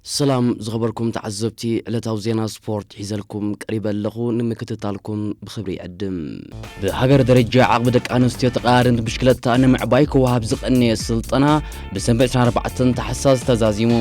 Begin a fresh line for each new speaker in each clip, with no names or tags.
ሰላም ዝኸበርኩም ተዓዘብቲ ዕለታዊ ዜና ስፖርት ሒዘልኩም ቀሪበ ኣለኹ ንምክትታልኩም ብኽብሪ ይዕድም። ብሃገር ደረጃ ዓቕሚ ደቂ ኣንስትዮ ተቐያርንት ብሽክለታ ንምዕባይ ክወሃብ ዝቐነየ ስልጠና ብሰንበት 24 ታሕሳስ ተዛዚሙ።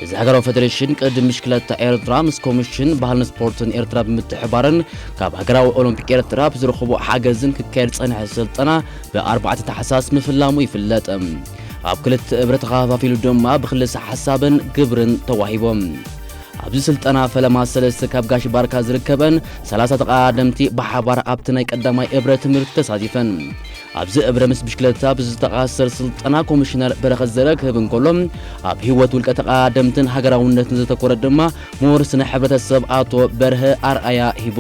እዚ ሃገራዊ ፌደሬሽን ቅድድም ብሽክለታ ኤርትራ ምስ ኮሚሽን ባህልን ስፖርትን ኤርትራ ብምትሕባርን ካብ ሃገራዊ ኦሎምፒክ ኤርትራ ብዝረኽቦ ሓገዝን ክካየድ ዝጸንሐ ስልጠና ብ4 ታሕሳስ ምፍላሙ ይፍለጥ። ኣብ ክልተ እብረ ተኸፋፊሉ ድማ ብክልሰ ሓሳብን ግብርን ተዋሂቦም። ኣብዚ ስልጠና ፈለማ ሰለስተ ካብ ጋሽ ባርካ ዝርከበን ሰላሳ ተቐዳደምቲ ብሓባር ኣብቲ ናይ ቀዳማይ እብረ ትምህርቲ ተሳቲፈን። ኣብዚ እብረ ምስ ብሽክለታ ብዝተኣሳሰር ስልጠና ኮሚሽነር በረኸት ዘረ ክህብ እንከሎ ኣብ ህይወት ውልቀ ተቐዳደምትን ሃገራውነትን ዘተኮረ ድማ ምሁር ስነ ሕብረተሰብ ኣቶ በርሀ ኣርኣያ ሂቡ።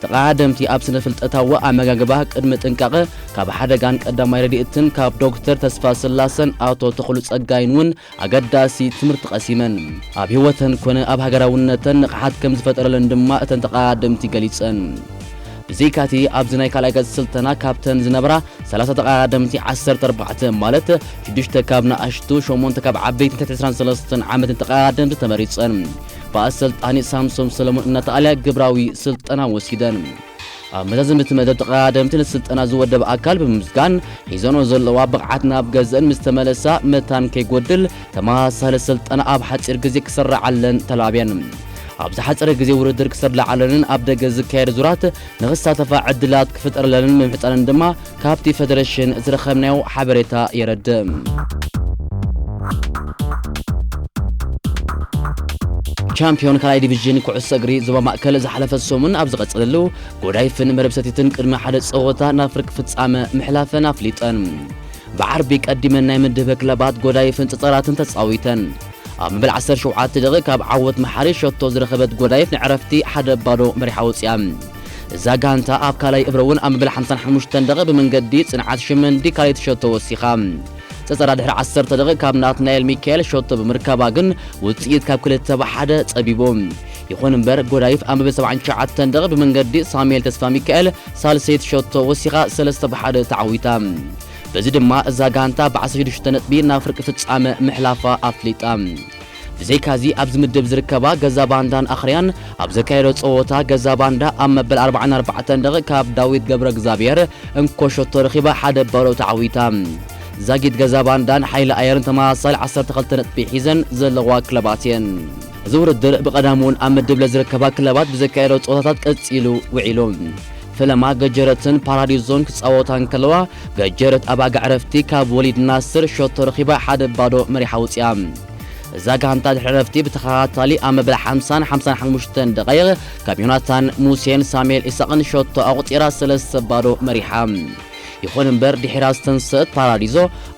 ተቐዳደምቲ ኣብ ስነ ፍልጠታዊ ኣመጋግባ ቅድመ ጥንቃቐ ካብ ሓደጋን ቀዳማይ ረድኤትን ካብ ዶክተር ተስፋስላሰን ኣቶ ተኽሉ ጸጋይን እውን ኣገዳሲ ትምህርቲ ቀሲመን። ኣብ ህይወተን ኮነ ኣብ ሃገራውነተን ንቕሓት ከም ዝፈጠረለን ድማ እተን ተቐዳደምቲ ገሊጸን። ብዘይካቲ ኣብዚ ናይ ካልኣይ ገጽ ስልተና ካብተን ዝነበራ ሰላሳ ተቐዳደምቲ ዓሰርተ ኣርባዕተ ማለት ሽዱሽተ ካብ ንኣሽቱ ሸሞንተ ካብ ዓበይትን ትሕቲ ዕስራን ሰለስተን ዓመትን ተቐዳደምቲ ተመሪጸን ብኣሰልጣኒ ሳምሶም ሰለሙን እናተኣልያ ግብራዊ ስልጠና ወሲደን። ኣብ መዛዘሚ እቲ መደብ ተቐዳደምቲ ነቲ ስልጠና ዝወደበ ኣካል ብምምስጋን ሒዘንኦ ዘለዋ ብቕዓት ናብ ገዝእን ምስ ተመለሳ መታን ከይጎድል ተመሳሳሊ ስልጠና ኣብ ሓፂር ግዜ ክስረዓለን ተላብየን። ኣብ ዝሓፀረ ግዜ ውድድር ክስርለዓለንን ኣብ ደገ ዝካየድ ዙራት ንኽሳተፋ ዕድላት ክፍጠረለንን ምምሕፃነን ድማ ካብቲ ፈደረሽን ዝረኸብናዮ ሓበሬታ የረድእ። ቻምፕዮን ካልኣይ ዲቪዥን ኩዕሶ እግሪ ዞባ ማእከል ዝሓለፈ ሰሙን ኣብ ዝቐጸለሉ ጎዳይፍን መረብ ሰቲትን ቅድሚ ሓደ ጸወታ ናብ ፍርቂ ፍጻመ ምሕላፈን ኣፍሊጠን። ብዓርቢ ቀዲመን ናይ ምድብ ክለባት ጎዳይፍን ጸጸራትን ተጻዊተን። ኣብ መበል ዓሰርተ ሸውዓተ ደቒቕ ካብ ዓወት መሓሪ ሸቶ ዝረኸበት ጎዳይፍ ንዕረፍቲ ሓደ ባዶ መሪሓ ወጺኣ። እዛ ጋንታ ኣብ ካልኣይ እብረ'ውን ኣብ መበል ሓምሳን ሓሙሽተን ደቒቕ ብመንገዲ ጽንዓት ሽመንዲ ካልኣይቲ ሸቶ ወሲኻ። ጸጸራ ድሕሪ ዓሰርተ ደቒቕ ካብ ናትናኤል ሚካኤል ሸቶ ብምርካባ ግን ውጽኢት ካብ ክልተ ብ ሓደ ጸቢቡ። ይኹን እምበር ጎዳይፍ ኣብ መበል ሰብዓን ትሽዓተን ደቒቕ ብመንገዲ ሳሙኤል ተስፋሚካኤል ሳልሰይቲ ሸቶ ወሲኻ ሰለስተ ብ ሓደ ተዓዊታ። በዚ ድማ እዛ ጋንታ ብ ዓሰርተ ሽዱሽተ ነጥቢ ናብ ፍርቂ ፍጻመ ምሕላፋ ኣፍሊጣ። ብዘይካዚ ኣብዚ ምድብ ዝርከባ ገዛ ባንዳን ኣኽርያን ኣብ ዘካየዶ ጸወታ ገዛ ባንዳ ኣብ መበል ኣርባዓን ኣርባዕተን ደቒቕ ካብ ዳዊት ገብረእግዝኣብሄር እንኮ ሸቶ ረኺባ ሓደ ባዶ ተዓዊታ። ዛጊት ገዛ ባንዳን ሓይሊ ኣየርን ተመሳሳሊ ዓሰርተ ክልተ ነጥቢ ሒዘን ዘለዋ ክለባት እየን። እዚ ውድድር ብቐዳምውን ኣብ ምድብ ለ ዝርከባ ክለባት ብዘካየዶ ጸወታታት ቀጺሉ ውዒሉ። ፈለማ ገጀረትን ፓራዲዞን ክጻወታ እንከለዋ ገጀረት ኣብ ኣጋ ዕረፍቲ ካብ ወሊድ ናስር ሸቶ ረኺባ ሓደ ባዶ መሪሓ ውጺኣ። እዛ ጋንታ ድሕሪ ዕረፍቲ ብተኸታታሊ ኣብ መበል ሓምሳን ሓምሳን ሓሙሽተን ደቓይቕ ካብ ዮናታን ሙሴን ሳሙኤል ኢሳቕን ሸቶ ኣቑጺራ ሰለስተ ባዶ መሪሓ። ይኹን እምበር ድሒራ ዝተንሰእት ፓራዲዞ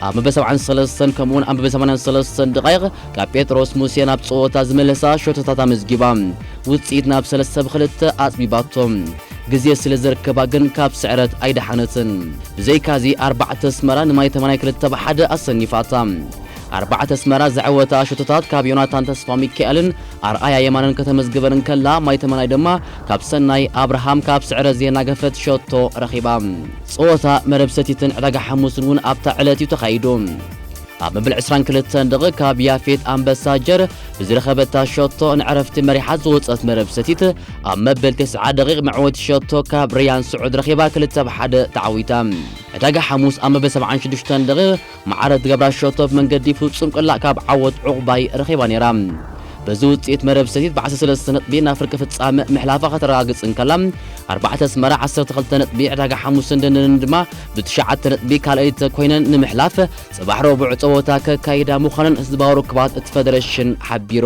ኣብ መበል ሰብዓን ሰለስተን ከምኡውን ኣብ መበል ሰማንያን ሰለስተን ደቓይቕ ካብ ጴጥሮስ ሙሴ ናብ ጸወታ ዝመለሳ ሸቶታት ኣመዝጊባ ውጽኢት ናብ ሰለስተ ብክልተ ኣጽቢባቶ። ግዜ ስለ ዘርከባ ግን ካብ ስዕረት ኣይደሓነትን። ብዘይካዚ ኣርባዕተ ኣስመራ ንማይ ተመናይ ክልተ ብ ሓደ ኣሰኒፋታ። ኣርባዕተ ኣስመራ ዘዐወታ ሸቶታት ካብ ዮናታን ተስፋሚካኤልን ኣርኣያ የማነን ከተመዝግበን እንከላ ማይ ተመናይ ድማ ካብ ሰናይ ኣብርሃም ካብ ስዕረት ዜና ገፈት ሸቶ ረኺባ። ጸወታ መረብ ሰቲትን ዕዳጋ ሓሙስን እውን ኣብታ ዕለት እዩ ተኻይዱ። ኣብ መበል ዕስራን ክልተን ደቒቕ ካብ ያፌት ኣንበሳ ጀር ብዝረኸበታ ሸቶ ንዕረፍቲ መሪሓት ዝወጸት መረብ ሰቲት ኣብ መበል ተስዓ ደቒቕ መዕወቲ ሸቶ ካብ ረያን ስዑድ ረኺባ ክልተ ብ ሓደ ተዓዊታ። ዕዳጋ ሓሙስ ኣብ መበል ሰብዓን ሽዱሽተን ደቒቕ መዓረድ ገብራሸቶብ መንገዲ ፍጹም ቅላዕ ካብ ዓወት ዑቕባይ ረኺባ ነይራ። በዚ ውጽኢት መረብ ሰቲት ብዓሰርተ ሰለስተ ነጥቢ ናብ ፍርቂ ፍጻመ ምሕላፋ ከተረጋግጽ እንከላ፣ ኣርባዕተ ኣስመራ ዓሰርተ ክልተ ነጥቢ፣ ዕዳጋ ሓሙስን ደንደንን ድማ ብትሽዓተ ነጥቢ ካልኣይቲ ኰይነን ንምሕላፍ ጽባሕ ረቡዕ ጸወታ ከካይዳ ምዃነን ህዝባዊ ርክባት እቲ ፈደረሽን ሓቢሩ።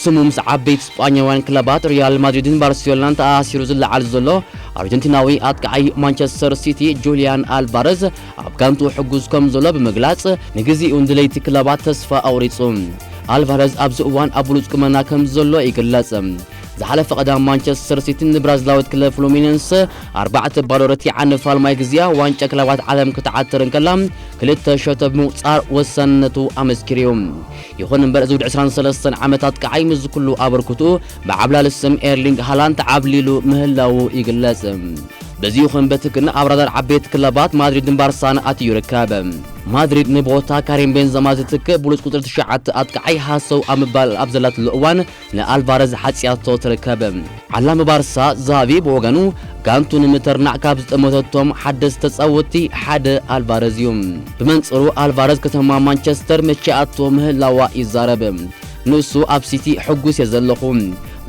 ስሙ ምስ ዓበይቲ ስጳኛውያን ክለባት ሪያል ማድሪድን ባርሴሎናን ተኣሳሲሩ ዝለዓል ዘሎ ኣርጀንቲናዊ ኣጥቃዓይ ማንቸስተር ሲቲ ጁልያን ኣልቫረዝ ኣብ ጋንትኡ ሕጉዝ ከም ዘሎ ብምግላጽ ንግዚኡ ንድለይቲ ክለባት ተስፋ ኣቑሪጹ። ኣልቫረዝ ኣብዚ እዋን ኣብ ብሉጽ ቁመና ከም ዘሎ ይግለጽ። ዝሓለፈ ቀዳም ማንቸስተር ሲቲ ንብራዚላዊት ክለብ ፍሉሚነንሰ ኣርባዕተ ባዶ ረቲዓ ንፋልማይ ግዜኣ ዋንጫ ክለባት ዓለም ክትዓትር እንከላ ክልተ ሸቶ ብምቁጻር ወሳንነቱ ኣመስኪሩ'ዩ። ይኹን እምበር እዚ ወዲ ዕስራን ሰለስተን ዓመት ኣጥቃዓይ ምስዚ ኩሉ ኣበርክትኡ ብዓብላሊ ስም ኤርሊንግ ሃላንድ ተዓብሊሉ ምህላዉ ይግለጽ። በዚ ይኹን በቲ ግን ኣብ ራዳር ዓበይቲ ክለባት ማድሪድን ባርሳን ኣትዩ ይርከብ። ማድሪድ ንቦታ ካሪም ቤንዘማ ዝትክእ ብሉጽ ቁጽሪ ትሽዓተ ኣጥቃዓይ ሃሰው ኣብ ምባል ኣብ ዘላትሉ እዋን ንኣልቫረዝ ሓጽያቶ ትርከብ። ዓላሚ ባርሳ ዛቪ ብወገኑ ጋንቱ ንምትርናዕ ካብ ዝጠመተቶም ሓደስቲ ተጻወትቲ ሓደ ኣልቫረዝ እዩ። ብመንጽሩ ኣልቫረዝ ከተማ ማንቸስተር መቺኣቶ ምህላዋ ይዛረብ። ንሱ ኣብ ሲቲ ሕጉስ እየ ዘለኹ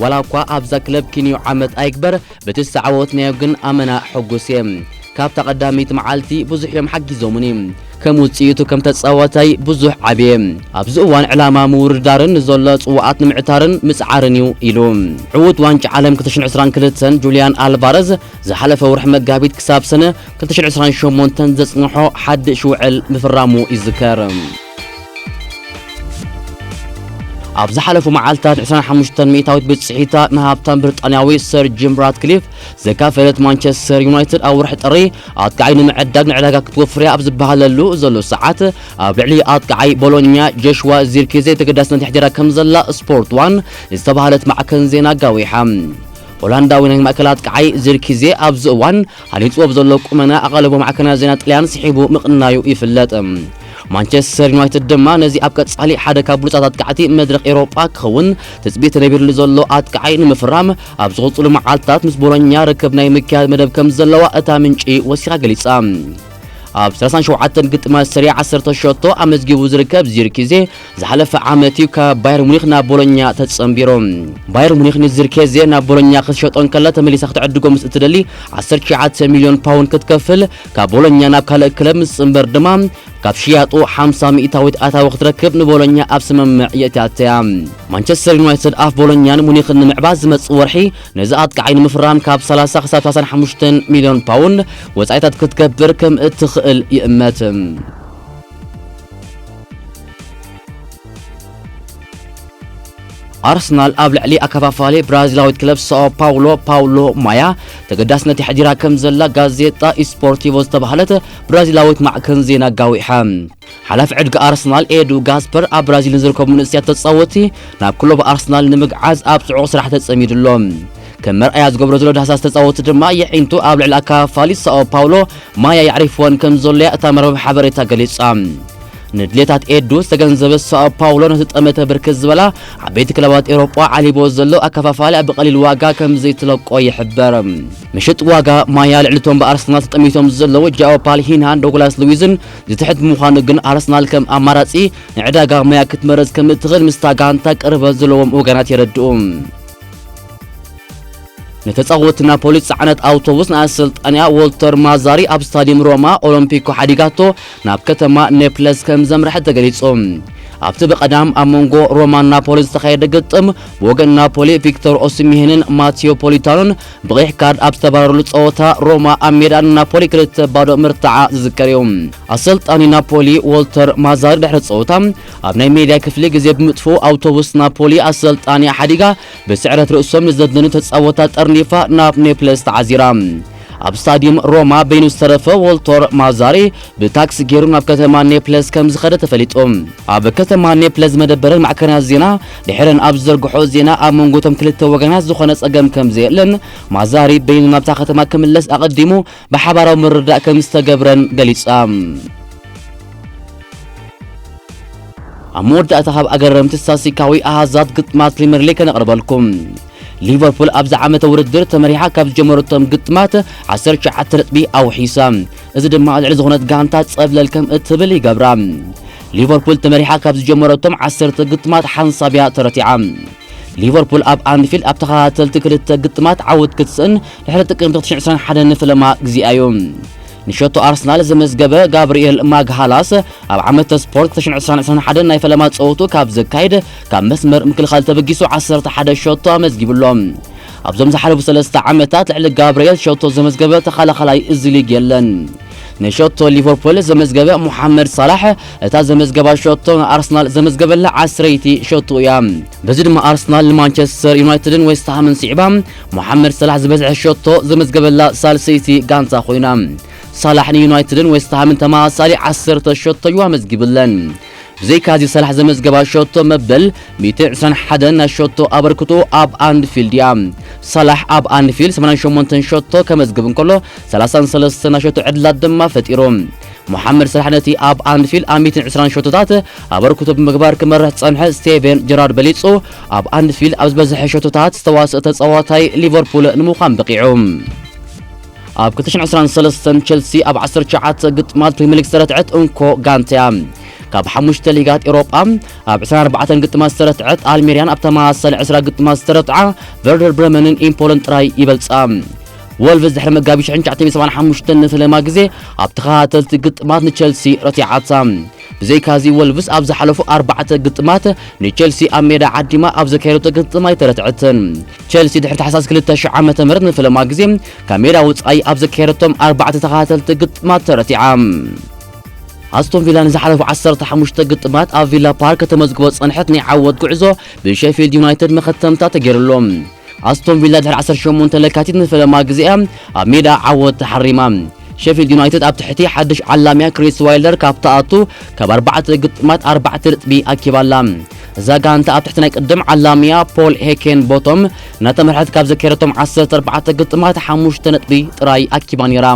ዋላ እኳ ኣብዛ ክለብ ኪንዮ ዓመት ኣይግበር ብቲ ዝተዓወትናዮ ግን ኣመና ሕጉስ እየ ካብታ ቀዳመይቲ መዓልቲ ብዙሕ እዮም ሓጊዞሙኒ ከም ውጽኢቱ ከም ተጻዋታይ ብዙሕ ዓብየ ኣብዚ እዋን ዕላማ ምውርዳርን ንዘሎ ጽዋኣት ንምዕታርን ምጽዓርን እዩ ኢሉ ዕዉት ዋንጫ ዓለም ክልተ ሽሕን ዕስራን ክልተን ጁልያን ኣልቫረዝ ዝሓለፈ ወርሒ መጋቢት ክሳብ ሰነ ክልተ ሽሕን ዕስራን ሸሞንተን ዘጽንሖ ሓድሽ ውዕል ምፍራሙ ይዝከር። ኣብ ዝሓለፉ መዓልታት 25 ሚእታዊት ብጽሒታ ንሃብታም ብሪጣንያዊ ሰር ጂም ራትክሊፍ ዘካፈለት ማንቸስተር ዩናይትድ ኣብ ወርሒ ጥሪ ኣጥቃዓይ ንምዕዳግ ንዕዳጋ ክትወፍርያ ኣብ ዝበሃለሉ ዘሎ ሰዓት ኣብ ልዕሊ ኣጥቃዓይ ቦሎኛ ጆሽዋ ዚርኪዜ ተገዳስነት የሕዲራ ከም ዘላ ስፖርት ዋን ዝተባሃለት ማዕከን ዜና ጋዊሓ ሆላንዳዊ ናይ ማእከል ኣጥቃዓይ ዚርኪዜ ኣብዚ እዋን ሃኒጽዎ ብዘሎ ቁመና ኣቓልቦ ማዕከናት ዜና ጥልያን ስሒቡ ምቕናዩ ይፍለጥ። ማንቸስተር ዩናይትድ ድማ ነዚ ኣብ ቀጻሊ ሓደ ካብ ብሉጻት ኣጥቃዕቲ መድረኽ ኤውሮጳ ክኸውን ትጽቢት ተነቢርሉ ዘሎ ኣጥቃዓይ ንምፍራም ኣብ ዝቕጽሉ መዓልታት ምስ ቦሎኛ ርክብ ናይ ምክያድ መደብ ከም ዘለዋ እታ ምንጪ ወሲኻ ገሊጻ። ኣብ ሰላሳን ሸውዓተን ግጥማት ሰሪኣ ዓሰርተ ሸቶ ኣመዝጊቡ ዝርከብ ዚርኪዜ ዝሓለፈ ዓመት እዩ ካብ ባየር ሙኒክ ናብ ቦሎኛ ተጸንቢሩ። ባየር ሙኒክ ንዚርኬዜ ናብ ቦሎኛ ክትሸጦ እንከላ ተመሊሳ ክትዕድጎ ምስ እትደሊ ዓሰርተ ትሽዓተ ሚልዮን ፓውንድ ክትከፍል፣ ካብ ቦሎኛ ናብ ካልእ ክለብ ምስ ዝጽንበር ድማ ካብ ሽያጡ ሓምሳ ሚእታዊት ኣታዊ ክትረክብ ንቦሎኛ ኣብ ስምምዕ የእትያት'ያ። ማንቸስተር ዩናይትድ ኣፍ ቦሎኛን ሙኒክን ንምዕባስ ዝመጽእ ወርሒ ነዚ ኣጥቃዓይ ንምፍራም ካብ ሰላሳ ክሳብ ሰላሳን ሓሙሽተን ሚልዮን ፓውንድ ወጻኢታት ክትገብር ከም እትኽእል ይእመት። ኣርሰናል ኣብ ልዕሊ ኣከፋፋሊ ብራዚላዊት ክለብ ሳኦ ፓውሎ ፓውሎ ማያ ተገዳስነት የሕዲራ ከም ዘላ ጋዜጣ ኢስፖርቲቮ ዝተባህለት ብራዚላዊት ማዕከን ዜና ጋዊሐ። ሓላፊ ዕድጊ ኣርሰናል ኤዱ ጋስፐር ኣብ ብራዚል ንዝርከቡ መንእሰያት ተጻወቲ ናብ ክለቡ ኣርሰናል ንምግዓዝ ኣብ ጽዑቕ ስራሕ ተጸሚዱ ኣሎ። ከም መርኣያ ዝገብሮ ዘሎ ዳህሳስ ተጻወቲ ድማ የዒንቱ ኣብ ልዕሊ ኣካፋሊት ሳኦ ፓውሎ ማያ የዕሪፍወን ከም ዘሎ'ያ እታ መርበብ ሓበሬታ ገሊጻ። ንድሌታት ኤዱ ዝተገንዘበት ሳኦ ፓውሎ ነቲ ጠመተ ብርክት ዝበላ ዓበይቲ ክለባት ኤውሮጳ ዓሊብዎ ዘሎ ኣከፋፋሊኣ ብቐሊል ዋጋ ከም ዘይትለቆ ይሕበር። ምሽጥ ዋጋ ማያ ልዕሊ'ቶም ብኣርሰናል ተጠሚቶም ዘለዉ ጃኦ ፓልሂንሃን ዶግላስ ሉዊዝን ዝትሕት ብምዃኑ ግን ኣርሰናል ከም ኣማራጺ ንዕዳጋ ማያ ክትመርጽ ከም እትኽእል ምስታ ጋንታ ቅርበት ዘለዎም ወገናት የረድኡ። ንተጻወቲ ናፖሊ ዝጸዓነት ኣውቶቡስ ናይ ኣሰልጣንያ ዎልተር ማዛሪ ኣብ ስታዲየም ሮማ ኦሎምፒኮ ሓዲጋቶ ናብ ከተማ ኔፕለስ ከም ዘምርሐ ተገሊጹ። ኣብቲ ብቐዳም ኣብ መንጎ ሮማን ናፖሊ ዝተኻየደ ግጥም ብወገን ናፖሊ ቪክቶር ኦሲሚሄንን ማቲዮ ፖሊታኖን ብቐይሕ ካርድ ኣብ ዝተባረሩሉ ጸወታ ሮማ ኣብ ሜዳ ንናፖሊ ክልተ ባዶ ምርታዓ ዝዝከር እዩ። ኣሰልጣኒ ናፖሊ ዎልተር ማዛሪ ድሕሪ ጸወታ ኣብ ናይ ሜድያ ክፍሊ ግዜ ብምጥፍኡ ኣውቶቡስ ናፖሊ ኣሰልጣኒኣ ሓዲጋ ብስዕረት ርእሶም ንዘድነኑ ተጻወታ ጠርኒፋ ናብ ኔፕለስ ተዓዚራ። ኣብ ስታድዩም ሮማ በይኑ ዝተረፈ ዎልቶር ማዛሪ ብታክሲ ጌሩ ናብ ከተማ ኔፕለስ ከም ዝኸደ ተፈሊጡ። ኣብ ከተማ ኔፕለስ ዝመደበረን ማዕከናት ዜና ድሒረን ኣብ ዝዘርግሕኦ ዜና ኣብ መንጎ እቶም ክልተ ወገናት ዝኾነ ጸገም ከም ዘየለን ማዛሪ በይኑ ናብታ ከተማ ክምለስ ኣቐዲሙ ብሓባራዊ ምርድዳእ ከምዝተገብረን ገሊጻ። ኣብ መወዳእታ ካብ ኣገረምቲ ስታትስቲካዊ ኣሃዛት ግጥማት ፕሪምየር ሊግ ከነቕርበልኩም። ሊቨርፑል ኣብዚ ዓመተ ውድድር ተመሪሓ ካብ ዝጀመረቶም ግጥማት 19 ነጥቢ ኣውሒሳ። እዚ ድማ ልዕሊ ዝኾነት ጋንታ ጸብለል ከም እትብል ይገብራ። ሊቨርፑል ተመሪሓ ካብ ዝጀመረቶም ዓሰርተ ግጥማት ሓንሳብያ ተረቲዓ። ሊቨርፑል ኣብ ኣንፊልድ ኣብ ተኸታተልቲ ክልተ ግጥማት ዓወት ክትስእን ድሕሪ ጥቅምቲ 2021 ንፍለማ ግዜኣዩ ንሸቶ ኣርሰናል ዘመዝገበ ጋብርኤል ማግሃላስ ኣብ ዓመተ ስፖርት 2021 ናይ ፈለማ ጸወቱ ካብ ዘካይድ ካብ መስመር ምክልኻል ተበጊሱ 11 ሸቶ ኣመዝጊብሎ። ኣብዞም ዝሓለፉ ሰለስተ ዓመታት ልዕሊ ጋብርኤል ሸቶ ዘመዝገበ ተኸላኻላይ እዚ ሊግ የለን። ንሸቶ ሊቨርፑል ዘመዝገበ ሙሓመድ ሳላሕ እታ ዘመዝገባ ሸቶ ንኣርሰናል ዘመዝገበላ ዓስረይቲ ሸቶ እያ። በዚ ድማ ኣርሰናል ንማንቸስተር ዩናይትድን ዌስትሃምን ስዒባ ሞሓመድ ሰላሕ ዝበዝሐ ሸቶ ዘመዝገበላ ሳልሰይቲ ጋንታ ኮይና ሳላሕ ንዩናይትድን ዌስትሃምን ተመሳሳሊ ዓሰርተ ሸቶ እዩ ኣመዝጊብለን። ብዘይካዚ ሰላሕ ዘመዝገባ ሸቶ መበል 121 ናይ ሸቶ ኣበርክቶ ኣብ ኣንፊልድ እያ። ሰላሕ ኣብ ኣንፊልድ 88 ሸቶ ከመዝግብ እንከሎ 33 ናይ ሸቶ ዕድላት ድማ ፈጢሩ። ሞሓመድ ሰላሕ ነቲ ኣብ ኣንፊልድ ኣብ 120 ሸቶታት ኣበርክቶ ብምግባር ክመርሕ ዝጸንሐ ስቴቨን ጀራርድ በሊጹ ኣብ ኣንፊል ኣብ ዝበዝሐ ሸቶታት ዝተዋስኦ ተጻዋታይ ሊቨርፑል ንምዃን በቒዑ። ኣብ 2023 ቸልሲ ኣብ 19 ግጥማት ፕሪምየርሊግ ዝተረትዐት እንኮ ጋንታ እያ። ካብ ሓሙሽተ ሊጋት ኤውሮጳ ኣብ 24 ግጥማት ዝተረትዐት ኣልሜርያን ኣብ ተመሳሳሊ 20 ግጥማት ዝተረትዓ ቨርደር ብረመንን ኢምፖልን ጥራይ ይበልጻ። ወልቭስ ድሕሪ መጋቢት 1975 ንፈለማ ግዜ ኣብ ተኸታተልቲ ግጥማት ንቸልሲ ረቲዓታ። ብዘይካዚ ወልቭስ ኣብ ዝሓለፉ ኣርባዕተ ግጥማት ንቸልሲ ኣብ ሜዳ ዓዲማ ኣብ ዘካየደቶ ግጥም ኣይተረትዐትን። ቸልሲ ድሕሪ ታሕሳስ 2000 ዓመተ ምህረት ንፈለማ ግዜ ካብ ሜዳ ወጻኢ ኣብ ዘካየደቶም ኣርባዕተ ተኸታተልቲ ግጥማት ተረቲዓ። ኣስቶን ቪላ ንዝሓለፉ ዓሰርተ ሓሙሽተ ግጥማት ኣብ ቪላ ፓርክ ከተመዝግቦ ዝጸንሐት ናይ ዓወት ጉዕዞ ብሼፊልድ ዩናይትድ መኸተምታ ተገይሩሉ። ኣስቶን ቪላ ድሕሪ ዓሰርተ ሸሞንተ ለካቲት ንፈለማ ግዜ እያ ኣብ ሜዳ ዓወት ተሓሪማ። ሸፊልድ ዩናይትድ ኣብ ትሕቲ ሓድሽ ዓላሚኣ ክሪስ ዋይልደር ካብ ትኣቱ ካብ ኣርባዕተ ግጥማት ኣርባዕተ ነጥቢ ኣኪባ ኣላ። እዛ ጋንታ ኣብ ትሕቲ ናይ ቅድም ዓላሚኣ ፖል ሄኬን ቦቶም እናተመርሐት ካብ ዘካየደቶም ዓሰርተ ኣርባዕተ ግጥማት ሓሙሽተ ነጥቢ ጥራይ ኣኪባ ነይራ።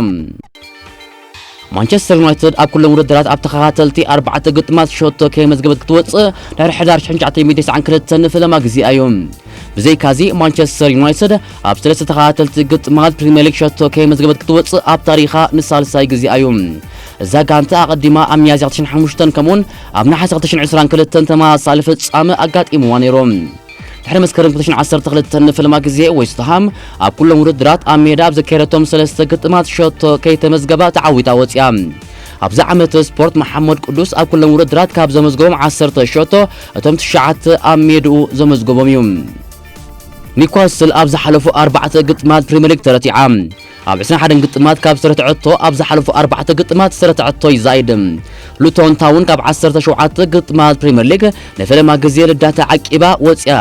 ማንቸስተር ዩናይትድ ኣብ ኩሎም ውድድራት ኣብ ተኸታተልቲ ኣርባዕተ ግጥማት ሸቶ ከየመዝገበት ክትወጽእ ድሕሪ ሕዳር 1992 ንፈለማ ግዜኣ እዩ ብዘይካዚ ማንቸስተር ዩናይትድ ኣብ ሰለስተ ተኸታተልቲ ግጥማት ፕሪምየር ሊግ ሸቶ ከየመዝገበት ክትወጽእ ኣብ ታሪኻ ንሳልሳይ ግዜኣ እዩ እዛ ጋንታ ኣቐዲማ ኣብ ሚያዝያ 2005 ከምኡውን ኣብ ነሓሰ 2022 ተመሳሳሊ ፍጻመ ኣጋጢምዋ ነይሩ ድሕሪ መስከረም 2012 ንፍልማ ግዜ ዌስትሃም ኣብ ኩሎም ውድድራት ኣብ ሜዳ ኣብ ዘካየደቶም ሰለስተ ግጥማት ሸቶ ከይተመዝገባ ተዓዊታ ወፂኣ። ኣብዚ ዓመት ስፖርት መሓመድ ቅዱስ ኣብ ኩሎም ውድድራት ካብ ዘመዝገቦም ዓሰርተ ሸቶ እቶም ትሽዓተ ኣብ ሜድኡ ዘመዝገቦም እዩ። ኒውካስል ኣብ ዝሓለፉ ኣርባዕተ ግጥማት ፕሪምየር ሊግ ተረቲዓ። ኣብ ዕስራን ሓደን ግጥማት ካብ ዝተረትዐቶ ኣብ ዝሓለፉ ኣርባዕተ ግጥማት ዝተረትዐቶ ይዛይድ። ሉቶን ታውን ካብ ዓሰርተ ሸውዓተ ግጥማት ፕሪመር ሊግ ንፈለማ ግዜ ልዳታ ዓቂባ ወጺኣ።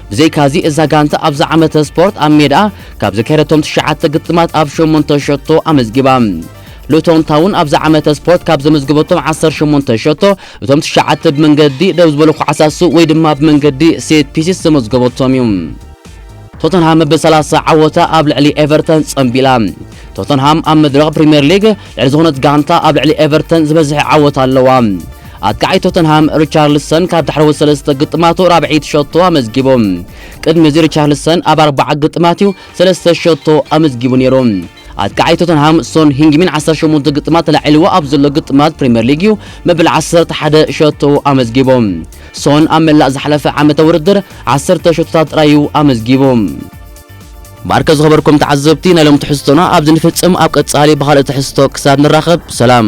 ብዘይካዚ እዛ ጋንታ ኣብዚ ዓመተ ስፖርት ኣብ ሜድኣ ካብ ዘካየደቶም ትሽዓተ ግጥማት ኣብ ሸሞንተ ሸቶ ኣመዝጊባ። ሉቶን ታውን ኣብዚ ዓመተ ስፖርት ካብ ዘመዝገበቶም ዓሰርተ ሸሞንተ ሸቶ እቶም ትሽዓተ ብመንገዲ ደው ዝበሉ ኳዕሳሱ ወይ ድማ ብመንገዲ ሴት ፒሲስ ዘመዝገበቶም እዩ። ቶተንሃም ብ ሰላሳ ዓወታ ኣብ ልዕሊ ኤቨርተን ጸንቢላ። ቶተንሃም ኣብ መድረኽ ፕሪምየር ሊግ ልዕሊ ዝኾነት ጋንታ ኣብ ልዕሊ ኤቨርተን ዝበዝሐ ዓወት ኣለዋ። ኣጥቃዓይ ቶተንሃም ሪቻርልሰን ካብ ዳሕረዎት ሰለስተ ግጥማቱ ራብዐይቲ ሸቶ ኣመዝጊቡ። ቅድሚ እዚ ሪቻርልሰን ኣብ ኣርባዓ ግጥማት እዩ ሰለስተ ሸቶ ኣመዝጊቡ ነይሩ። ኣጥቃዓይ ቶተንሃም ሶን ሂንግሚን ዓሰርተ ሸሞንተ ግጥማት ተላዒልዎ ኣብ ዘሎ ግጥማት ፕሪምየር ሊግ እዩ መበል ዓሰርተ ሓደ ሸቶ ኣመዝጊቡ። ሶን ኣብ መላእ ዝሓለፈ ዓመተ ውድድር ዓሰርተ ሸቶታት ጥራይ እዩ ኣመዝጊቡ። ባርከ ዝኸበርኩም ተዓዘብቲ ናይ ሎም ትሕዝቶና ኣብዚ ንፍጽም ኣብ ቀጻሊ ብኻልእ ትሕዝቶ ክሳብ ንራኸብ ሰላም።